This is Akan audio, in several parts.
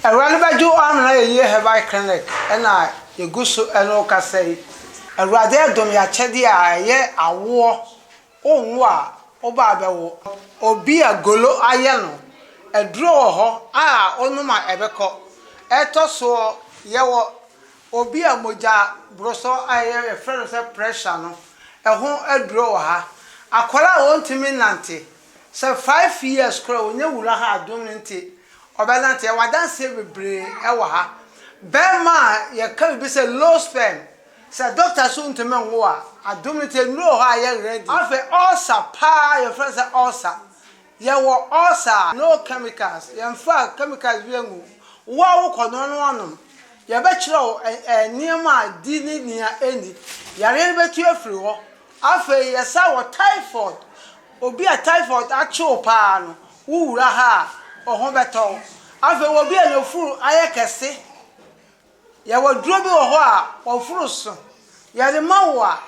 Awurade bɛgye wo amena yɛyie herbal clinic na yɛgu so ne wo kasa yi. Awurade adom yɛ akyɛdeɛ a ɛyɛ awoɔ wowo a woba abɛwo obi a golo ayɛ no aduro wɔ hɔ a wonom a ɛbɛkɔ ɛtɔ soɔ yɛwɔ obi a mogya borosɔ a yɛfrɛ no sɛ pressure no ɛho aduro wɔ ha akwadaa a wɔntumi nnante Sɛ five years koraa a ɔnya wura ha adom no nti ɔbɛnante, yɛwɔ adanseɛ bebree wɔ ha, bɛɛma a yɛka biribi sɛ low sperm, sɛ doctor so ntumi nwo a, adom no nti nnuro wɔ hɔ a yɛ ready. Afei ulcer paa yɛfrɛ no sɛ ulcer, yɛwɔ ulcer a no chemicals, yɛmfa chemicals bi angu, wo a wo kɔ noa na woanom, yɛbɛkyerɛ wo nneɛma a di ne nea ɛnni, yareɛ no bɛtu afiri hɔ, Afei yɛ sɛ wɔ typhoid, obi a typhoid akye wo paa no, wo wura ha a, wo ho bɛtɔ wo. Afei wɔ obi a n'afuru ayɛ kɛse, yɛwɔ aduro bi wɔ hɔ a w'afuru so, yɛde ma wo a,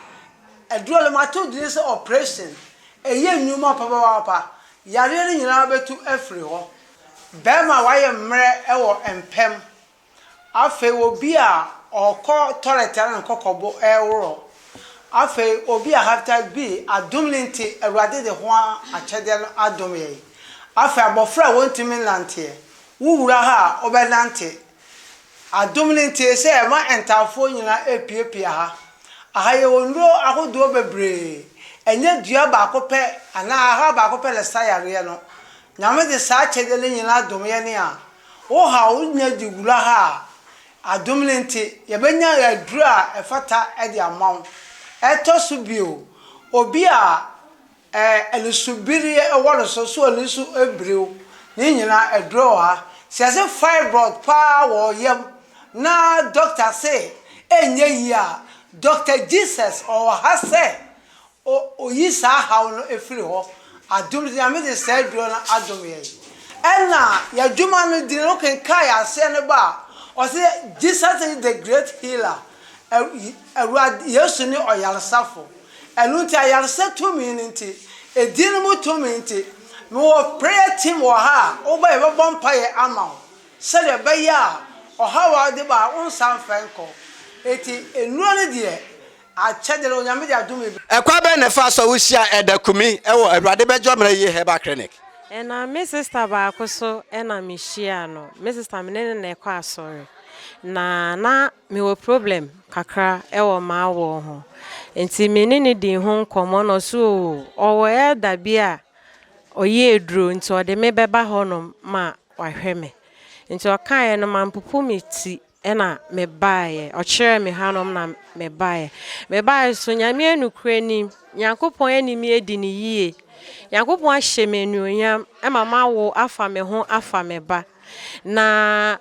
aduro no mato din sɛ operation, ɛyɛ nnwuma papapapa, yareɛ no nyinaa bɛtu afiri hɔ. Bɛrima a wayɛ mmerɛ wɔ mpam. Afei obi a ɔkɔ toilet ara ne kɔkɔbo reworo. Afei obi a hepatitis B adom no nti Awurade de ho akyɛdeɛ no adom yɛn. Afei abɔfra a wɔntumi nnanteɛ, wo wura ha a wobɛnante. Adom no nti sɛ yɛma ntaafoɔ nyinaa repiapia ha. Aha yɛwɔ nnuro ahodoɔ bebree. Ɛnyɛ dua baako pɛ anaa ahra baako pɛ na ɛsa yareɛ no. Nyame de saa akyɛdeɛ no nyinaa dom yɛn a, Wo haw wo nya de wura ha a, adom no nti, yɛbɛnya aduru a ɛfata de ama wo. Ɛtɔ so bio, obi a anisobireɛ wɔ no so, so ani so bire wo, ne nyinaa aduru wɔ ha. Sɛ yɛse fibroid pa ara wɔ wo yam na dɔkta se ɛnyɛ yie a, Dɔkta Jesus ɔwɔ ha sɛ O Oyi saa haw no firi hɔ. Adom nti Nyame de saa aduro no adom yɛn. Ɛna yadwuma no dini no kenkan aseɛ no ba a, ɔse Jesus is the great healer, Awurade Yesu ne ɔyaresafo. Ɛno nti ayaresa tumi no nti, edin no mu tumi nti, me wɔ prayer team wɔ ha a, woba yɛbɛbɔ mpaeɛ ama wo. Sɛdeɛ ɛbɛyɛ a ɔhaw a wode ba a wonsan mfɛn kɔ. Enti nnuro no deɛ Akyɛde no, Onyame de adome bi. Ɛkwan bɛn na ɛfaa so a wohyiaa Elder Kumi wɔ Awurade Bɛgye Ɔman Ayiye Herbal Clinic? Ɛna me sister baako so na mehyiaa no. Me sister me ne no na ɛkɔ asɔre. Na na mewɔ problem kakra wɔ m'awɔɔ ho. Nti me ne no dii ho nkɔmmɔ na ɔse oo ɔwɔ Elder bi a ɔyɛ aduro nti ɔde me bɛba hɔnom ma wahwɛ me. Nti ɔkaeɛ no mampopo me ti. na mebaeɛ, ɔkyerɛɛ me hanom na mebaeɛ. Mebaeɛ nso, Nyame yɛ nokorɛ ni, Nyankopɔn ani me adi no yie, Nyankopɔn ahyɛ me anuonyam ma mawo afa me ho afa me ba. Na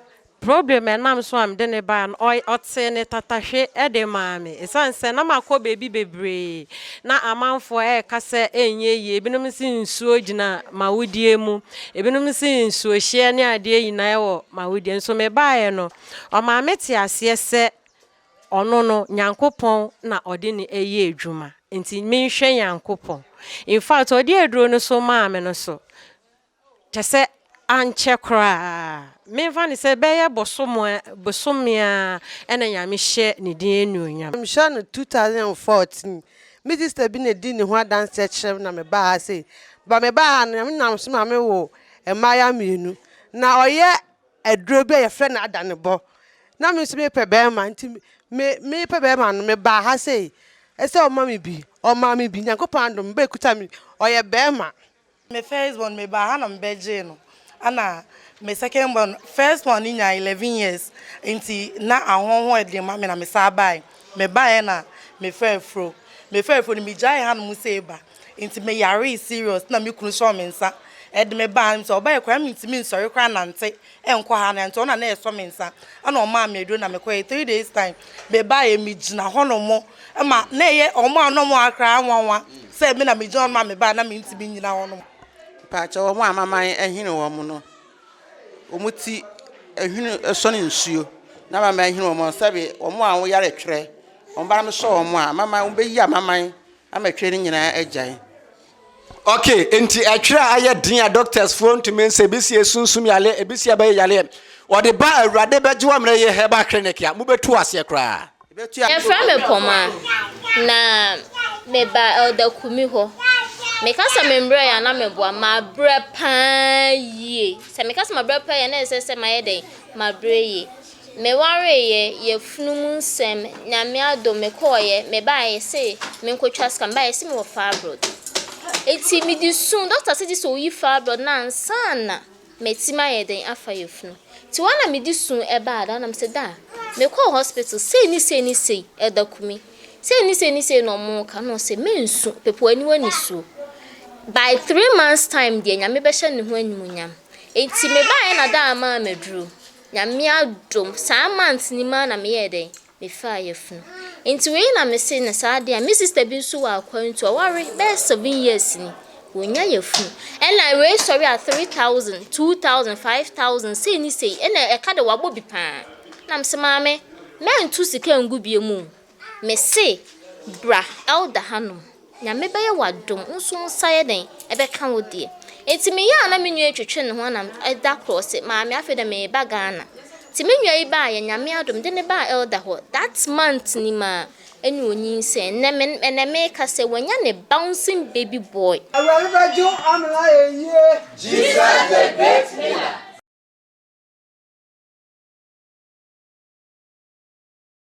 problem a ɛnam so a mede no baeɛ no, ɔy ɔtee ne tatahwe de maa me. Ɛsiane sɛ na makɔ baabi bebree, na amanfoɔ reka sɛ ɛnyɛ yie, binom se nsuo gyina m'awodeɛ mu, Ebinom se nsuohyeɛ ne adeɛ nyinaa wɔ m'awodeɛ. Nso mebaeɛ no, ɔmaa me te aseɛ sɛ ɔno no, Nyankopɔn na ɔde no ɛyɛ adwuma. Nti menhwɛ Nyankopɔn. In fact, ɔde aduro no so maa me no so, kyɛ sɛ ankyɛ koraa, memfa no sɛ bɛyɛ bosome ara na Nyame hyɛ ne din anuonyam. Mehwɛ no 2014 Me sista bi na edi ne ho adanse kyerɛ me na mebaa ha sei. Ba mebaa ha no, me nam so ma me wo mmayewa mmienu. Na ɔyɛ aduro bi a yɛfrɛ no adanebɔ. Na me nso mepɛ bɛrima nti me mepɛ bɛrima no mebaa ha sei. Ɛsɛ ɔma me bi, ɔmaa me bi. Nyankopɔn adom, me ba ekuta me, ɔyɛ bɛrima. Me first born mebaa ha na mebɛgyee no ɛna me second born first one no nyaa eleven years nti na ahɔn ho yɛ den ma me na me san bae mebaeɛ na mefaa afuro mefaa afuro no megyaee ha nom sei ba nti meyaree serious na me kunu sɔɔ me nsa ɛde me baa nti ɔbaeɛ koraa na mentumi nsɔre koraa nante ɛnkɔ ha na nti ɔno na na ɛsɔ me nsa ɛna ɔmaa me aduro na mekɔɛ three days time mebaeɛ megyina hɔ no mo ɛma na ɛyɛ ɔmo a na ɔmo akra nwanwa sɛ me na megyina hɔ no ma mebaeɛ na mentumi nyina hɔ no mo. Mpaakyɛ ɔmo a maman ahini ɔmo no ɔmo ti ahini ɛsɔne nsuo na maman ahini ɔmo sɛbi ɔmo a ɔmo yare twerɛ ɔmo ba na mesɔ ɔmo a maman ɔmo bɛyi a maman ama twerɛ no nyinaa agyae. Okay, enti ɛtwerɛ a ayɛ den a doctors foɔ ntumi nsɛ ebi si esunsum yale ebi si ɛbɛyɛ yale wɔde ba awurade bɛgye wɔn mmerɛ yɛ herbal clinic a mo bɛtu aseɛ koraa. Yɛfrɛ me Kɔmaa na meba Elder Kumi hɔ. Meka sɛ me mmerɛ yɛ a na meboa, mabrɛ paa yie. Sɛ meka sɛ mabrɛ paa yie a na ɛsɛ sɛ mayɛ dɛn? Mabrɛ yie. Me wareeɛ yɛ funu mu nsɛm nyame adom me kɔɔeɛ me baeɛ yɛse me nko twa sika me baeɛ yɛse me wɔ fibroid eti me di su doctor se gyese oyi fibroid no ansa na ma ti me ayɛ den afa yɛ funu ti hɔ na me di su ɛbaa daa na me se daa me kɔɔ hospital sei ne sei ne sei ɛda kumi sei ne sei ne sei na ɔmo ka na ɔse me nsu pepo aniwa ni suo by three months time deɛ nyame bɛhyɛ ne ho animuonyam eti me baeɛ na daa maa me aduro. Nyame adom saa month no mu ara na me yɛɛ dɛn? Me faa yafunu. Nti wei na me se no saa adeɛ a, me sister bi nso wɔ Akwantu, ɔware bɛyɛ seven years ni, wɔnnya yafunu. Ɛna wei sɔre a three thousand, two thousand, five thousand, sei ne sei, ɛna ɛka de wabɔ bi paa. Ɛna me se maame, mɛnto sika ngu biem o. Mese bra Elder hanom na me bɛyɛ wo adom wo nso wo nsa yɛ dɛn ɛbɛka wo deɛ Nti me yɛ a na me nua yi twetwe ne ho ana da korɔ se maame afei deɛ me reba Ghana Nti me nua yi baa yɛ Nyame adom de no baa Elder hɔ that month nim a ɛna ɔnyinsɛn nnɛ me ɛnɛ me reka sɛ wanya ne bouncing baby boy. Awurade bɛgye wo Amena ayɛ yie. Jesus the great healer.